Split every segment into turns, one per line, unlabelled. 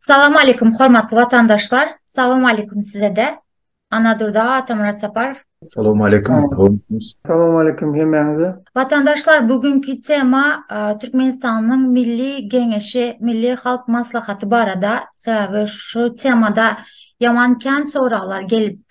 Salam aleýkum hormatly watandaşlar. Salam aleýkum sizede. Anadurda Atamyrat Saparow. Salam aleýkum. Salam aleýkum hemmäňize. Watandaşlar bu günki tema Türkmenistanyň Milli Geňeşi, Milli Halk Maslahaty barada. Sebäbi şu temada ýaman kän soraglar gelip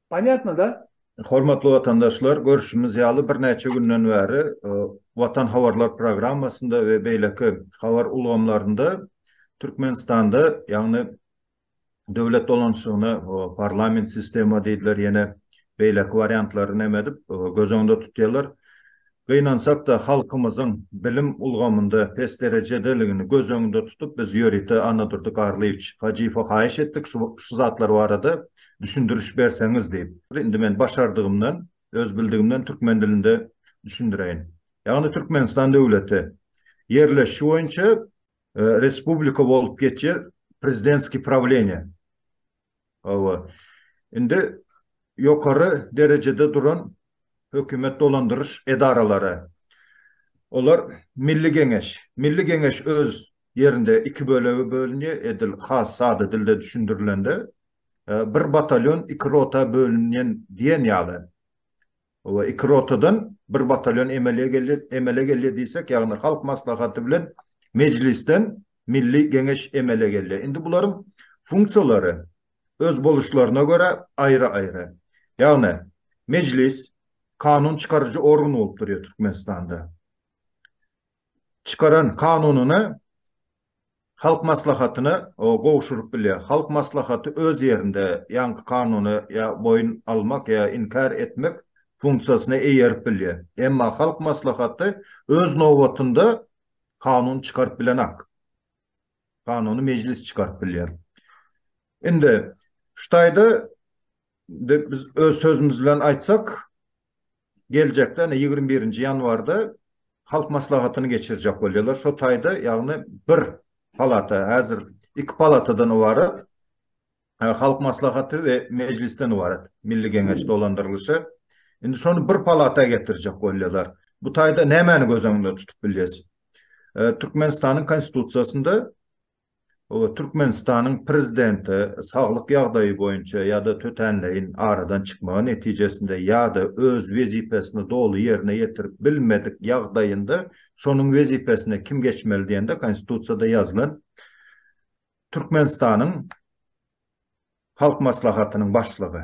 Понятno da? Hormatly watandaşlar, görşümiz ýaly birnäçe günden bäri Watan habarlar programmasynda we beýleki habar ulgamlarynda Türkmenistanda, ýagny döwlet dolanyşygyny parlament sistema diýdiler ýene beýleki wariantlary näme edip göz öňünde tutýarlar. Gynansak-da, halkymyzyň bilim ulgamynda pes derejedeligini göz öňünde tutup, biz ýörite Annadurdy Garlyýewiç Hajyýewe haýyş etdik, şu şu zatlar barada düşündiriş berseňiz diýip. Indi men başardygymdan, öz bildigimden türkmen dilinde düşündireýin. Ýagny Türkmenistan döwleti ýerleşişi boýunça respublika bolup geçýär, prezidentskiý prawleniýe. Hawa. Indi ýokary derejede duran hökümet dolandyryş edaralary, olar Milli Geňeş. Milli Geňeş öz ýerinde iki bölege bölünýär, edil has sada dilde düşündirilende, bir batalýon iki rota bölünýän diýen ýaly. we iki rotadan bir batalýon emele geldi, emele geldi diýsek, ýagny Halk Maslahaty bilen Mejlisden Milli Geňeş emele geldi. Indi bularyň funksiýalary özboluşlaryna görä aýry-aýry. Ýagny Mejlis kanun çykaryjy organ bolup durýar Türkmenistanda. Çykaran kanunyny Halk Maslahatyna gowşuryp bilýär. Halk Maslahaty öz ýerinde ýaňky kanuna ýa boýun almak ýa inkär etmek funksiýasyna eýerip bilýär. Emma Halk Maslahaty öz nobatynda kanun çykaryp bilenak. Kanuny Mejlis çykaryp bilýär. Indi şu taýda biz öz sözümiz bilen aýtsak, geljekde ine ýigrimi birinji ýanwarda halk maslahatyny geçirjek bolýarlar. Şo taýda ýagny bir palata häzir iki palatadan ybarat halk maslahaty we mejlisden ybarat Milli Geňeş dolandyrylyşy. Indi şony bir palata getirjek bolýarlar. Bu taýda nämäni göz öňünde tutup bilýäs? Türkmenistanyň konstitusiýasynda Türkmenistanyň Prezidenti saglyk ýagdaýy boýunça ýa-da tötänleýin aradan çykmagy netijesinde ýa-da öz wezipesini doly ýerine ýetirip bilmedik ýagdaýynda şonuň wezipesine kim geçmeli diýende Konstitusiýada ýazylan Türkmenistanyň Halk Maslahatynyň Başlygy.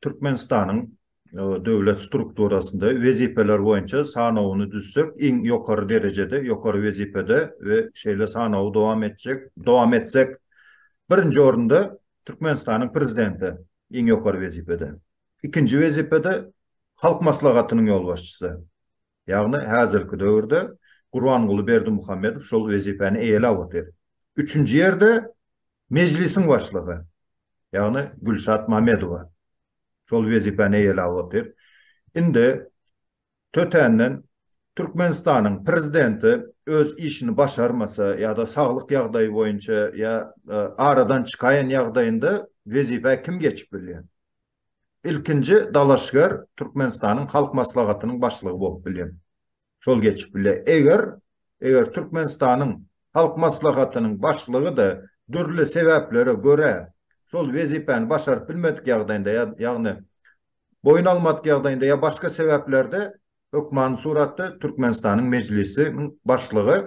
Türkmenistanyň döwlet strukturasynda wezipeler boýunça sanawyny düzsek, iň ýokary derejede, ýokary wezipede we şeýle sanawy dowam etjek, dowam etsek, birinji orunda Türkmenistanyň Prezidenti, iň ýokary wezipede. Ikinji wezipede Halk Maslahatynyň ýolbaşçysy. Ýagny häzirki döwürde Gurbanguly Berdimuhamedow şol wezipäni eýeläp otyr. Üçünji ýerde Mejlisiň başlygy, ýagny Gülşat Mamedowa şol wezipäni eýeläp otyr. Indi tötänden Türkmenistanyň Prezidenti öz işini başarmasa ýa-da saglyk ýagdaýy boýunça ýa aradan çykaýan ýagdaýynda wezipä kim geçip bilýär? Ilkinji dalaşgär Türkmenistanyň Halk Maslahatynyň başlygy bolup bilýär. Şol geçip bilýär. Eger, eger Türkmenistanyň Halk Maslahatynyň başlygy-da dürli sebäplere görä şol wezipäni başaryp bilmedik ýagdaýynda, ýagny boýun almadyk ýagdaýynda ýa başga sebäplerde hökmany suratda Türkmenistanyň Mejlisiniň başlygy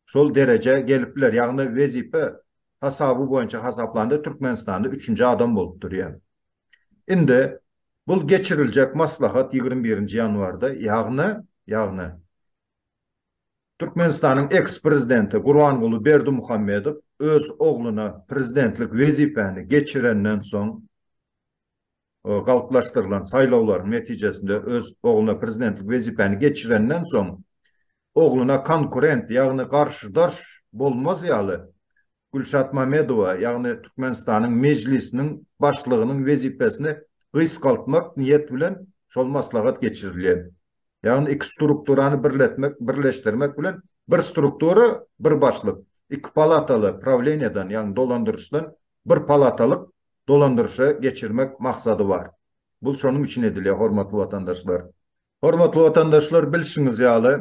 şol derejä gelip biler. Ýagny wezipe hasaby boýunça hasaplanda Türkmenistanda üçünji adam bolup durýar. Indi bul geçiriljek maslahat ýigrimi birinji ýanwarda, ýagny, ýagny Türkmenistanyň eks-prezidenti Gurbanguly Berdimuhamedow öz ogluna prezidentlik wezipäni geçirenden soň, galplaşdyrylan saýlawlaryň netijesinde öz ogluna prezidentlik wezipäni geçirenden soň, ogluna konkurent, ýagny garşydaş bolmaz ýaly, Gülşat Mamedowa, ýagny Türkmenistanyň Mejlisiniň Başlygynyň wezipesini gysgaltmak niýet bilen şol maslahat geçirilýär. Ýagny iki strukturany birletmek, birleşdirmek bilen bir struktura, bir başlyk, iki palataly prawleniýadan, ýagny dolandyryşdan bir palatalyk dolandyryşa geçirmek maksady bar. Bu şonuň üçin edilýär, hormatly watandaşlar. Hormatly watandaşlar, bilşiňiz ýaly,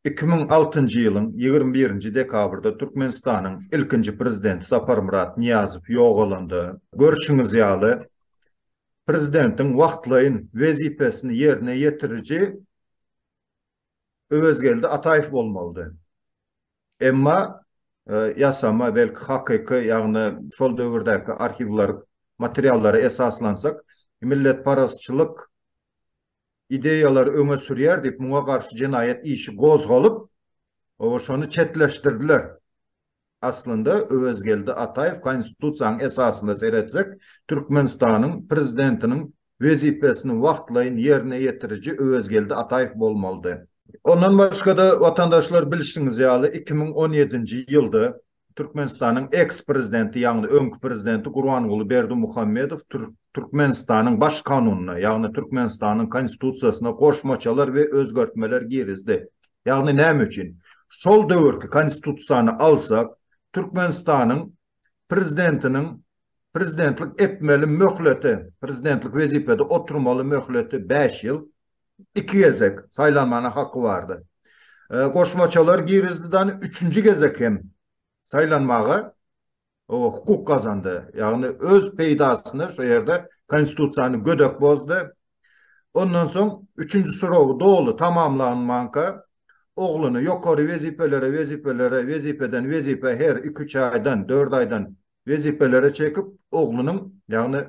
iki müň altynjy ýylyň ýigrimi birinji dekabrda Türkmenistanyň ilkinji Prezidenti Saparmyrat Nyýazow ýogalanda, görşüňiz ýaly, Prezidentiň wagtlaýyn wezipesini ýerine ýetiriji Öwezgeldi Ataýew bolmalydy. Emma ýasama, belki hakyky, ýagny şol döwürdäki arhiwler materiallara esaslansak, milletparazçylyk ideýalary öňe sürýär diýip, muňa garşy jenaýat işi gozgalyp, şony çetleşdirdiler. Aslynda Öwezgeldi Ataýew Konstitusiýanyň esasyna seretsek, Türkmenistanyň Prezidentiniň wezipesini wagtlaýyn ýerine ýetiriji Öwezgeldi Ataýew bolmalydy. Ondan başga-da, watandaşlar, bilşiňiz ýaly, iki müň on ýedinji ýylda Türkmenistanyň eks-prezidenti, ýagny öňki prezidenti Gurbanguly Berdimuhamedow Türkmenistanyň Baş kanunyna, ýagny Türkmenistanyň Konstitusiýasyna goşmaçalar we özgertmeler girizdi. Ýagny näme üçin? Şol döwürki Konstitusiýany alsak, Türkmenistanyň prezidentiniň prezidentlik etmeli möhleti, prezidentlik wezipede oturmaly möhleti bäş ýyl, iki gezek saýlanmana haky bardy. E, goşmaçalar girizdi da üçünji gezek hem saýlanmaga o hukuk gazandy. Ýagny öz peýdasyna şu ýerde konstitusiýany gödek bozdy, Ondan soň üçünji soragy doly tamamlanmanka ogluny ýokary wezipelere wezipelere wezipeden wezipä her iki üç aýdan dört aýdan wezipelere çekip oglunyň ýagny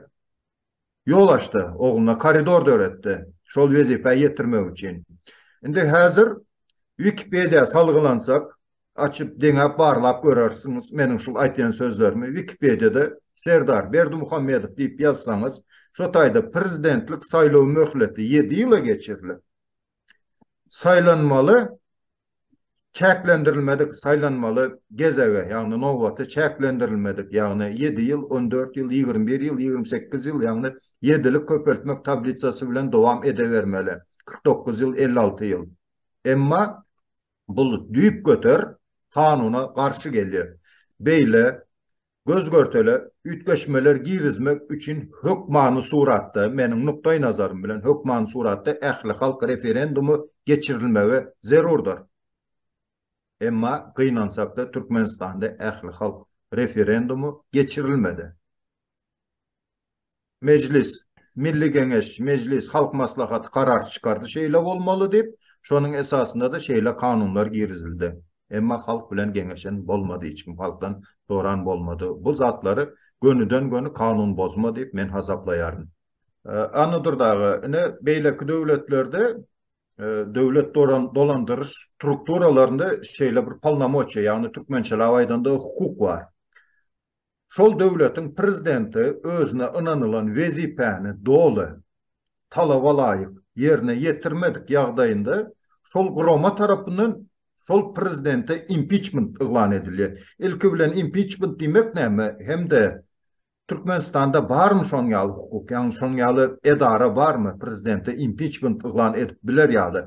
ýol açdy ogluna koridor döretdi şol wezipä ýetirmek üçin indi häzir wikipediýa salgylansak açyp deňäp barlap görersiňiz meniň şul aýtýan sözlerimi wikipediýada Serdar Berdimuhamedow diýip ýazsaňyz şo taýda prezidentlik saýlaw möhleti ýedi ýyla geçirilip saýlanmaly çäklendirilmedik saýlanmaly gezege ýagny nobaty çäklendirilmedik ýagny ýedi ýyl on dört ýyl ýigrimi bir ýyl ýigrimi sekiz ýyl ýagny ýedilik köpeltmek tablisasy bilen dowam edebermeli kyrk dokuz ýyl elli alty ýyl emma Bu düýpgöter kanuna garşy gelýär. Beýle göz-görtele üýtgeşmeler girizmek üçin hökmany suratda, meniň nukdaýnazarym bilen, hökmany suratda ählihalk referendumy geçirilmegi zerurdyr. Emma gynansak-da, Türkmenistanda ählihalk referendumy geçirilmedi. Mejlis, Milli Geňeş, Mejlis, Halk Maslahaty karar çykardy, şeýle bolmaly diýip, şonuň esasynda-da şeýle kanunlar girizildi. Emma halk bilen geňeşen bolmady, hiç kim halkdan soran bolmady. Bu zatlary gönüden-göni kanun bozma diýip men hasaplaýaryn. Annadur dagy, ine, beýleki döwletlerde döwlet dolandyryş strukturalarynda şeýle bir polnomoçiýa, ýagny türkmençeläp aýdanda hukuk bar. Şol döwletiň Prezidenti özüne ynanylan wezipäni doly, talaba laýyk, ýerine ýetirmedik ýagdaýynda şol gurama tarapyndan şol Prezidente impiçment yglan edilýär. Ilki bilen impiçment diýmek näme hem-de Türkmenistanda barmy şonuň ýaly hukuk, ýagny şonuň ýaly edara barmy Prezidente impiçment yglan edip biler ýaly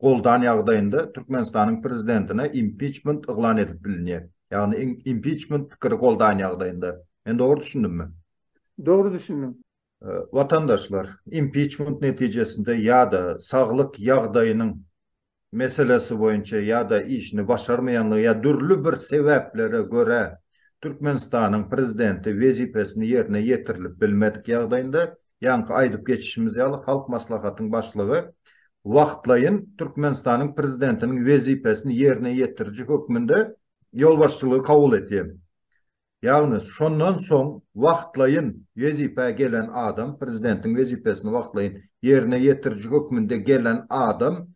goldan ýagdaýynda Türkmenistanyň prezidentine impiçment yglan edip bilinýär. Ýagny impiçment pikiri goldan ýagdaýynda. Men dogry düşündimmi? Dogry düşündiň. Watandaşlar, impiçment netijesinde ýa-da saglyk ýagdaýynyň meselesi boýunça ýa-da işini başarmaýanlygy ýa dürli bir sebäplere görä Türkmenistanyň prezidenti wezipesini ýerine ýetirilip bilmedik ýagdaýynda Ýaňky aýdyp geçişimiz ýaly, Halk Maslahatyň Başlygy wagtlaýyn Türkmenistanyň Prezidentiniň wezipesini ýerine ýetiriji hökmünde ýolbaşçylygy kabul edýär. Ýagny, şondan soň wagtlaýyn wezipä gelen adam, Prezidentiň wezipesini wagtlaýyn ýerine ýetiriji hökmünde gelen adam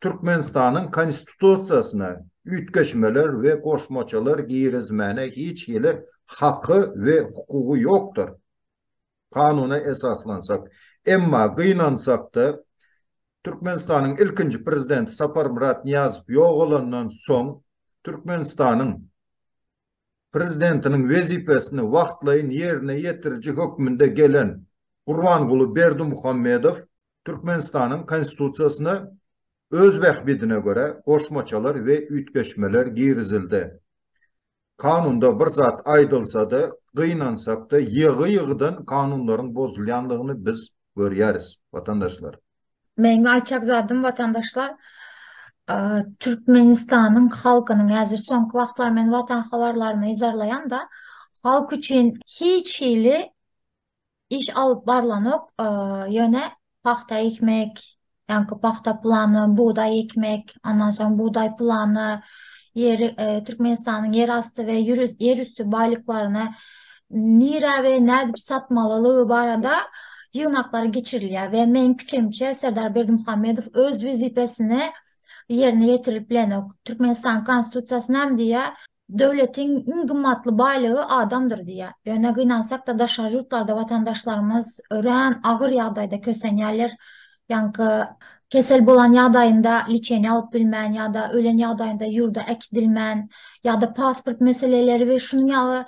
Türkmenistanyň Konstitusiýasyna üýtgeşmeler we goşmaçalar girizmäne hiç hili haky we hukugy ýokdur. Kanuna esaslansak. Emma gynansak-da, Türkmenistanyň ilkinji Prezidenti Saparmyrat Nyýazow ýogalandan soň, Türkmenistanyň Prezidentiniň wezipesini wagtlaýyn ýerine ýetiriji hökmünde gelen Gurbanguly Berdimuhamedow Türkmenistanyň Konstitusiýasyna öz bähbidine görä goşmaçalar we üýtgeşmeler girizildi. Kanunda bir zat aýdylsa-da, gynansak-da, ýygy-ýygydan kanunlaryň bozulýandygyny biz görýäris, watandaşlar. Meň aýtjak zadym, watandaşlar, Türkmenistanyň halkynyň häzir soňky wagtlar men Watan habarlaryny yzarlaýan-da, halk üçin hiç hili iş alyp barlanok, ýöne pagta ekmek, ýaňky pagta plany, bugdaý ekmek, ondan soň bugdaý plany, ýeri, Türkmenistanyň ýerasty we ýerüsti baýlyklaryny nirä we nädip satmalylygy barada ýygnaklar geçirilýär we meniň pikirimçe, Serdar Berdimuhamedow öz wezipesini ýerine ýetirip bilenok. Türkmenistanyň Konstitusiýasy näme diýýär? Döwletiň iň gymmatly baýlygy adamdyr diýýär. Ýöne gynansakda daşary ýurtlarda watandaşlarymyz örän agyr ýagdaýda kösenýärler. Ýaňky kesel bolan ýagdaýynda liçeniýa alyp bilmän ýa-da ölen ýagdaýynda ýurda äkidilmän ýa-da pasport meseleleri we şunuň ýaly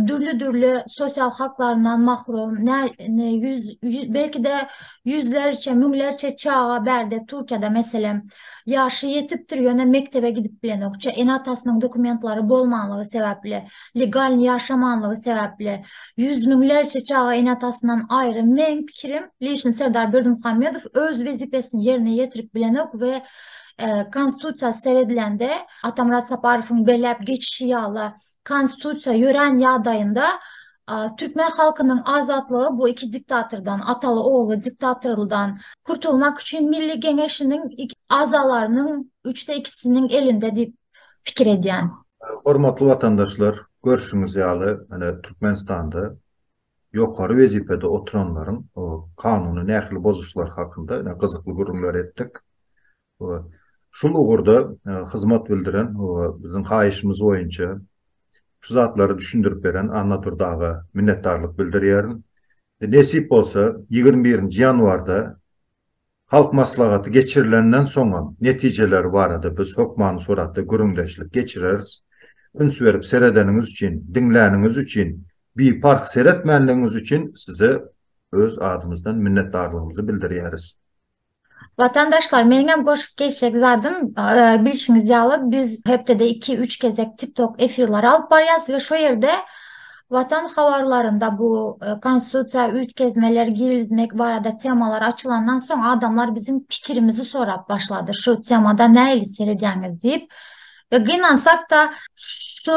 dürli-dürli sosial haklaryndan mahrum belki-de ýüzlerçe, müňlerçe çaga bärde Türkiýede meselem Ýaşy ýetipdir, ýöne mekdebe gidip bilenok. Çe ene-atasynyň dokumentlary bolmanlygy sebäpli, legalny ýaşamanlygy sebäpli, ýüz müňlerçe çaga ene-atasyndan aýry. Meniň pikirim, Lişin Serdar Berdimuhamedow öz wezipesini ýerine ýetirip bilenok we Konstitusiýa seredilende Atamyrat Saparowyň belläp geçişi ýala Konstitusiýa ýörän ýagdaýynda türkmen halkynyň azatlygy bu iki diktatordan, ataly-ogly diktatorldan kurtulmak üçin Milli Geňeşiniň agzalarynyň üçde ikisiniň elinde diýip pikir edýän. Hormatly watandaşlar, görşüňiz ýaly, ine, Türkmenistanda ýokary wezipede oturanlaryň kanuny nähili bozuşlary hakynda gyzykly gürrüňler etdik. Şul ugurda hyzmat bildiren we biziň haýyşymyz boýunça şu zatlary düşündirip beren Annadurdy aga minnetdarlyk bildirýärin. Nesip bolsa, ýigrimi birinji ýanwarda Halk Maslahaty geçirilenden soňam netijeleri barada biz hökmany suratda gürrüňdeşlik geçireris. Üns berip seredeniňiz üçin, diňläniňiz üçin, biparh seretmänligiňiz üçin size öz adymyzdan minnetdarlygymyzy bildirýäris. Watandaşlar meniňem goşup geçjek zadym bilşiňiz ýaly biz hepdede iki üç gezek tiktok efirleri alyp barýas we şo ýerde watan habarlarynda bu e, konstitusiýa üýtgezmeler girizmek barada temalar açylandan soň adamlar biziň pikirimizi sorap başlady şu temada nähili seredýäňiz diýip we gynansak da şu